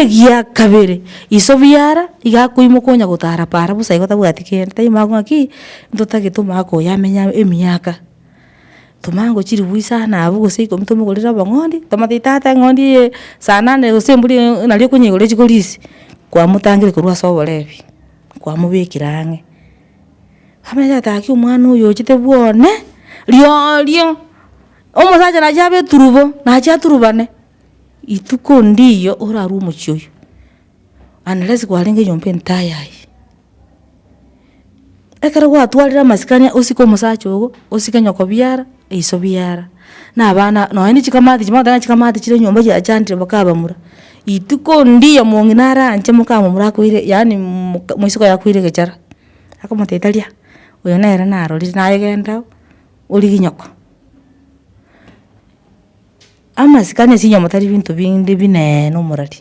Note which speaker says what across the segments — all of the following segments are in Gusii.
Speaker 1: Egia kabere, iso biara iga akoimoka onya gotara para bosa igo tabwati kende, taimoka ng'a ki ntotagete omogaka oyo amenye emiaka. Tomanye gochirigwa isana abwo gose ikomi tomogorere obong'ondi, tomanye tata eng'ondi eye saa nane gose embori eye nario okonyigorera echiko risi, kwamotangire korwa ase oborebi. kwamobekire ang'e. Abere ataki omwana oyo ochete bwane, riorio omosacha naye abe eturubo, nache aturubane, rituko ndiyo orarue omochie oyo, unless kwarenge nyomba entayayi. Ekero gwatwarire amasikani osike omosacha ogo, osike nyokobiara. Iso biara, na abana nonya ne chikamati chimwe ogakora ng'a chikamati chire nyomba chiachandire bakabamura, rituko ndiyo mongi naranche mokamomura akoire yaani moka moisiko yakoire egechara, akamoteta ria, oyo nere narorire naye genda origie nyoko. Amasikani ase enyomba tari binto binde bineene omorari,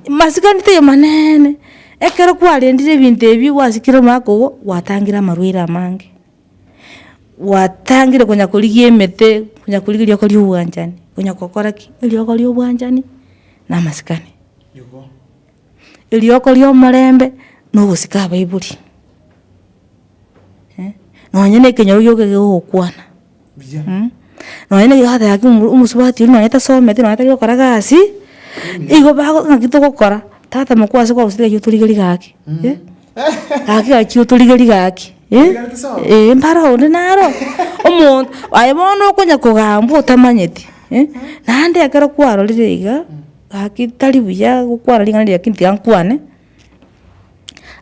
Speaker 2: masikani taiyo
Speaker 1: maneene, ekero kwarendire ebinto ebi gwasikire omwaka ogo, gwatangire amarwaire amange. gwatangire konya korigia emete, konya korigia rioka ria obwanchani, konya gokora ki? Erioka ria obwanchani na amasikani. Erioka ria omorembe na ogosika abaibori, eh, nonye na ekenyoro gioka ekegokwana.
Speaker 2: Nonye
Speaker 1: nigo agateba ng'aki omosubati oria nonye tasometi nonye tari gokora gasi, igo bago ng'aki togokora, tata mokwo ase kwaguseti gaki otorigerie gaki, gaki gachia otorigerie gaki, ee mbare onde naro, omonto, aye bono okonya kogambwa otamanyeti, naende ekero kwarorire iga, gaki tari buya gokwana ring'ana riria lakini tiga nkwane.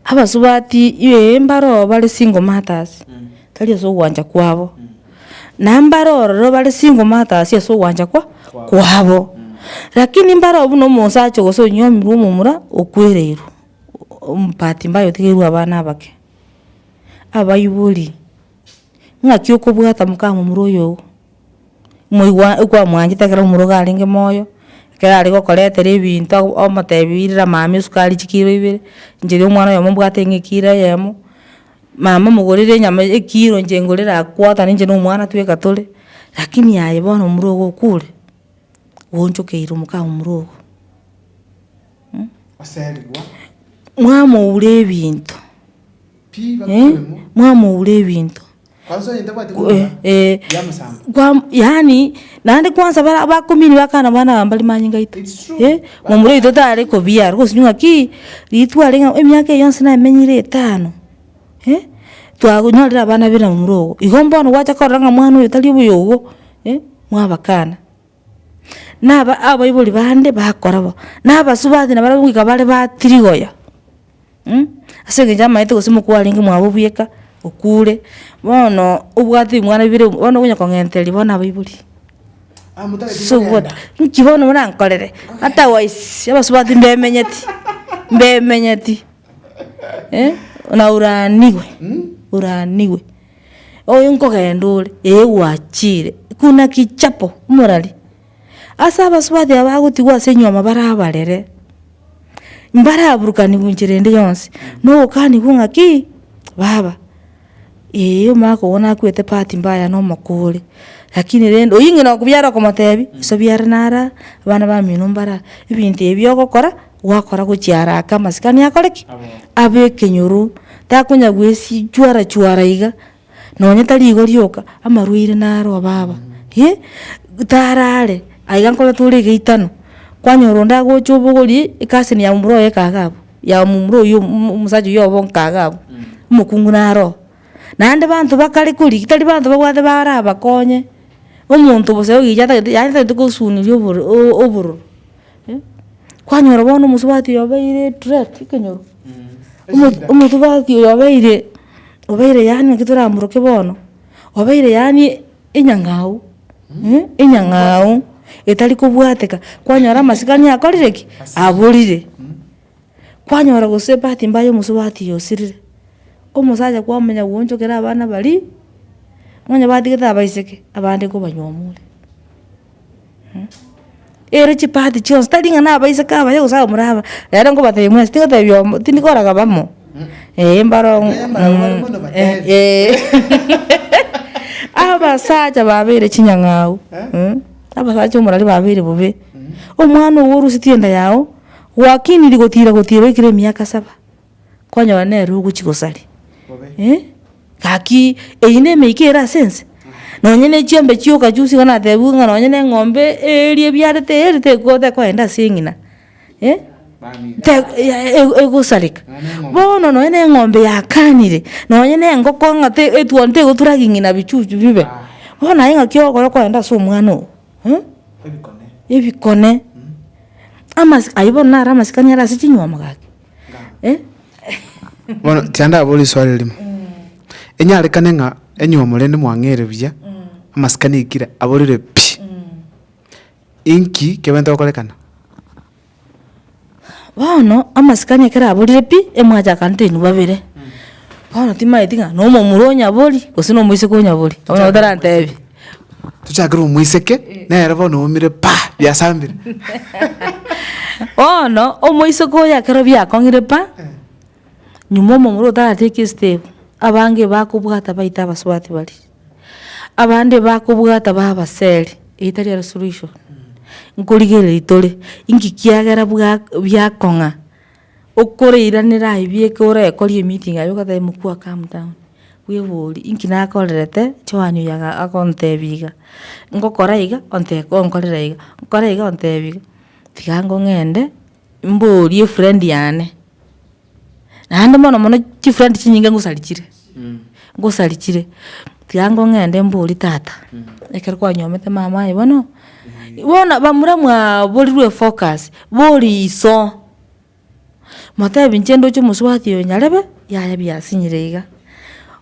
Speaker 1: Abasubati ee mbare oo bare single mothers tari ase ogwancha kwabo, na mbare ororo bare single mothers ase ogwancha kwa kwabo. Lakini mbare oo buna omosacha gose onyomirwe omomura okwereirwe, ombati mbaya otigeirwe abana abake, abaibori. ng'aki okobwata mokamomura oyoo, moigwa okwamwanchete ekero omouga arenge moyo, ekero are gokoretera ebinto ago omotebi birira mama esukari chikiro ibere, inche ria omwana oyomo mbwate ng'a ekiro eyemo, mama mogorere enyama eye ekiro inche ngorere aa quarter ninche na omwana tweka tore, lakini aye bono omura ogo okure, gwaonchokeire omokamura ogo. Mwamouria ebinto. eh, mwamoura ebinto,
Speaker 2: eh,
Speaker 1: kwa yaani naende kwansa bara abakomini bakana bana aba mbari manyinga aito, eh, momura oito tare kobiarwa gose ng'aki, ritwe are ng'a emiaka eye yonsi namenyire etano, eh, twanyorire abana bire na momura ogo, igo bono gwacha korora ng'a mwana oyo tari oboyogo, eh, mwabakana. na aba abaibori bande bakora bo, na abasubati nabarabwo goika bare ba tirigoyo, ase eng'encho amaete gose omokwe orenge mwabo bweka okure, bono obwate ebimwana bibere obo bono okonya kong'entereri bono abaibori, nki bono morankorere, otherwise abasubati mbemenyeti, mbemenyeti, oraniwe, oraniwe. Oyo nkogenda ore, ee gwachiire, kuna kichapo omorari. Ase abasubati aba bagotigwa ase enyuoma bare abarere, mbaraburukanigwe enchera ende yonsi, na ogokanigwa ng'a kii, baba, ee omwaka ogo nakwete part mbaya na omoko ore, rakini rende oywo ng'ina okobiara okomotebi, nsobiare nare aa, abana bamino mbare aa, ebinto ebi ogokora. gwakora gochia haraka amasikani akore ki? Abe ekenyoro, takonya gwesichwara chwara iga, nonye tari igo rioka, amarwaire nare obaba eh, tarare aiga nkore tore egeitano, kwanyora onde agocha obogori ekasin ya momura oye ekaga abwo, ya momura oywo omo omosacha oywo obo nkaga abwo, omokungu nare oo. Naende banto bakare kori tari banto babwate barabakonye, omonto bosa ogicha atagete yaani atagete kosuniria oboro obororo. Kwanyora bono omosubati oyo obeire etrek ekenyoro, omo- omosubati oyo obeire obeire yaani naki toramoroke bono, obeire yaani enyang'au, enyang'au etari kobwateka, kwanyora amasikani akorire ki? Aborire. Kwanyora gose ebati mbaya ya omosubati oyo osirire, omosacha kwamanya gwoonchokera abana baria, nonya batigete abaiseke, abande kobanywa omwore. Ere chipaati chionsi tari ng'a nabaiseke abaye gose abamura aba, rero nkobatebia muna ase tingotebia oyomo tindi koragaba amo, eeh mbaro ong'o eeh abasacha babeire chinyang'au abasacha omorari babeire bobe, omwana obo orusetie enda yago, gwakiniri gotira gotira oikire emiaka saba. kwanyora nere ogochia gosari eh, gaki eyio ne emeika ere ase ense, nonye ne chiombe chio okachusia iga natebiwe ng'a nonye na eng'ombe eria ebiarete eri tekoba tekoenda ase eng'ina eh, te e- egosareka. Bono nonye na eng'ombe yakanire, nonye na engoko ng'a te etuoni tegotura ging'ina bichuchu bibe, bono aye ng'aki okoba okoenda ase omwana oo eh, ebikone, amas ayio bono naro amasikani are ase chinyuomo gaki.
Speaker 2: Bono tiandabora eswali erimo, enyarekane ng'a onye omorende mwang'eire buya, amasikani aikire aborire pi, inki kebenta gokorekana?
Speaker 1: Bono amasikani ekero aborire pi, emwachakanete inwe babere, bono timaeti ng'a nomomura onyaborie gose nomoiseke onyaborie, bono otarantebie. Tochakere
Speaker 2: omoiseke, nere bono oumire pa! biasambire.
Speaker 1: Bono omoiseke oyo ekero biakong'ire pa! nyuma omomura otaratiki esitemu, abange bakobwata baite abasubati baria, abande bakobwata babe abaseri, eyi tari ere solution. Nkorigereria tore, inki kiagera bwa biakong'a. Okoreiranera aye bieka orekori emeeting aye ogateba mokua calm down, bwebori inki nakorerete Joan oyo aga agontebia iga, ngokora iga onte onkorera iga, nkore iga ontebia iga, tiga ango ng'ende mborie efriend yane, naende mono mono chifriend chinyinge ngosarichire, ngosarichire, tiga ango ng'ende mborie tata, ekero kwanyomete mama aye bono, bono bamura mwaborirwe efocus, bori iso. Motebi inche ndoche omosubati oyo nyarebe, yaya biasinyire iga.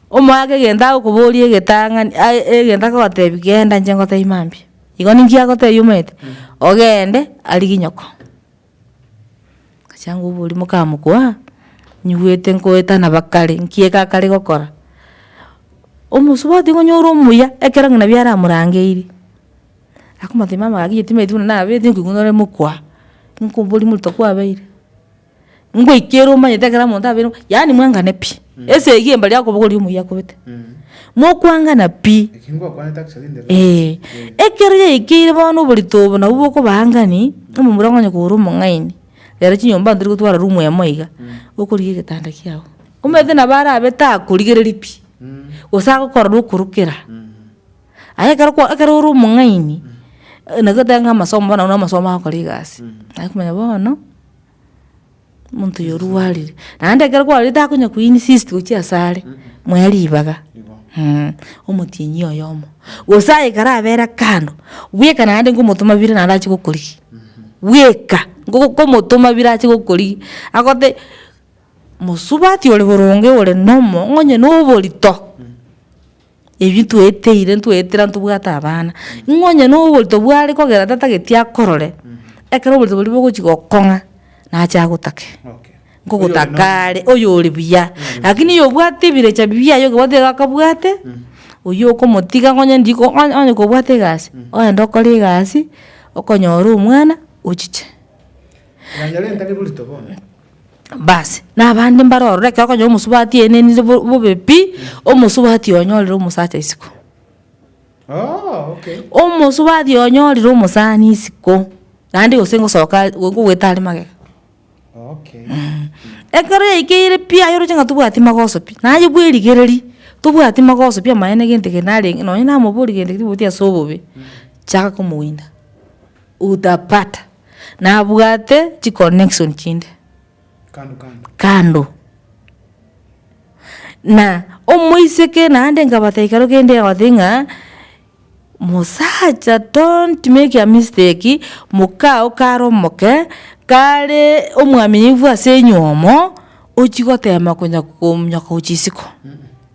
Speaker 1: Omoake egento agokoboria egetang'ani ai egento agotebi genda inche ngotebi mambia. Igo ninki agotebi omanyete, ogende arigie nyoko. Gachia ngoboria mokamokua, nyigwete nkoetana bakare, nki eke akare gokora. Omosubati igo onyore omuya ekero ng'a nabio aramorangeirie. akomoteebia mama gaki egetima egetwe buna nabete nkoigwa nore mokwa, nko oborie moruto kwabeire, ngoika ere omanyete ekero omonto abeire mokwa, yaani mwangane pi, esegi eye mbari akobogoria omoyia akobete, mokwangana pi,
Speaker 2: eeh. Ekero
Speaker 1: yaikeire bono oborito obo nabwo bokobaangani, omomura okonya kogora omong'aini, rero chinyomba ntari gotwara room emo iga, okorigia egetanda kiago, omanyete nabo arabete akorigereri pi, gose agokorora okorokera. Aye ekero kwa ekero ore omong'aini, nagoteba ng'a amasomo bono na amasomo agokora egasi, naye komanya bono, omonto oyo orwarire. Naende ekero kwarorire takonya ko insist gochia ase are, moe ribaga, omotienyi oyomo. Gose aye ekero abera kando, bweka naende ngomotoma bire naende achie gokorigia, bweka ngo komotoma bire achie gokorigia, agote mosubati ore boronge ore nomo, onye noborito, Ebi tweteire ntwetera ntobwate abana, ng'a onye na oborito bware kogera tatageti akorore, ekero oborito boria bogochi gokong'a, nache agotake, nkogotaka are oyo ore buya. Lakini oyo obwate ebirecha biaye oyo obwate iga akabwate, oyio okomotiga ng'a onye ndiko onye onye kobwate egasi, ogende okore egasi, okonyora omwana, ochiche.
Speaker 2: Basi,
Speaker 1: na abande mbaro ororo ekero okonyora omosubati aenenire bo- bobe pi, omosubati oyo onyorire omosacha isiko.
Speaker 2: Omosubati oyo onyorire
Speaker 1: omosani isiko, naende gose ngosoka are go- gogweta are magega. Mh, ekero yaikeire pi aye oroche ng'a tobwati magoso pi, naye bwerigereria, tobwati magoso pi amaene gento eke narenge nonye namoboria gento eke tiboboti ase obobe, chaka komowinda. utapata nabwate chi connection chinde kando. Na omoiseke naende nkabata ekero kende egoteba ng'a mosacha don't make a mistake mokaa oo kare omoke kare omwaminifu ase enywomo ochi gotema konya komonya gochia isiko.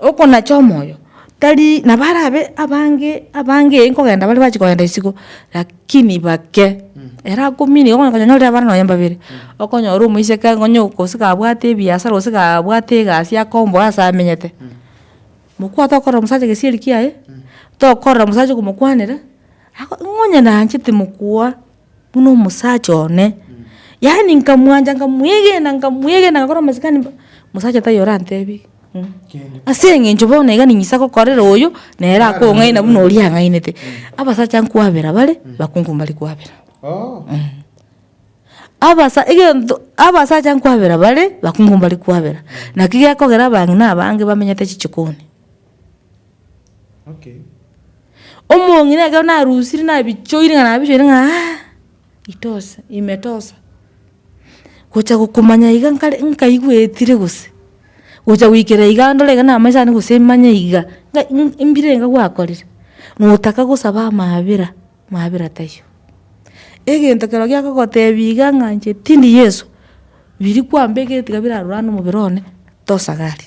Speaker 1: okonacha omoyo tari nabo arabe abange abange ee nkogenda bare bache kogenda isiko lakini bake ere akominigwa okonyora konya nyorire abana nonya mbabere, okonyora omoiseke iga onye gose kabwate ebiasara gose kabwate egasi akomboa ase amenyete, mokwa tokorera omosacha gesieri kiaye, tokorera omosacha okomokwanera, ako ng'a onye nanchete mokwa. buna omosacha one, yaani nkamwancha nkamwegena nkamwegena agakora amasikani mb- mosacha taiyo orantebi ng'o ase eng'encho bono iga ning'isa gokorera oyo nere akong'aina buna oria ang'ainete. Abasacha nkwabera bare, bakungu mbari kwabera. Abasa egento abasacha nkwabera bare, bakungu mbari kwabera. Naki gekogera abang'ina abange bamenyete chichokoni. Omong'ina ekero narusire nabichoire ng'a nabichoire ng'a aa itosa imetosa, gocha gokomanya iga nkare nkaigwetire gose, gocha goikera iga ndore iga namanyete naende gose manye iga, ng'a mbirenga gwakorire, notaka gosaba amabera. mwabera taiyo. Egento kero giakogotebia iga ng'a inche tindi Yeso, biri kwambeka etiga birarorane nomobere one, tosagari.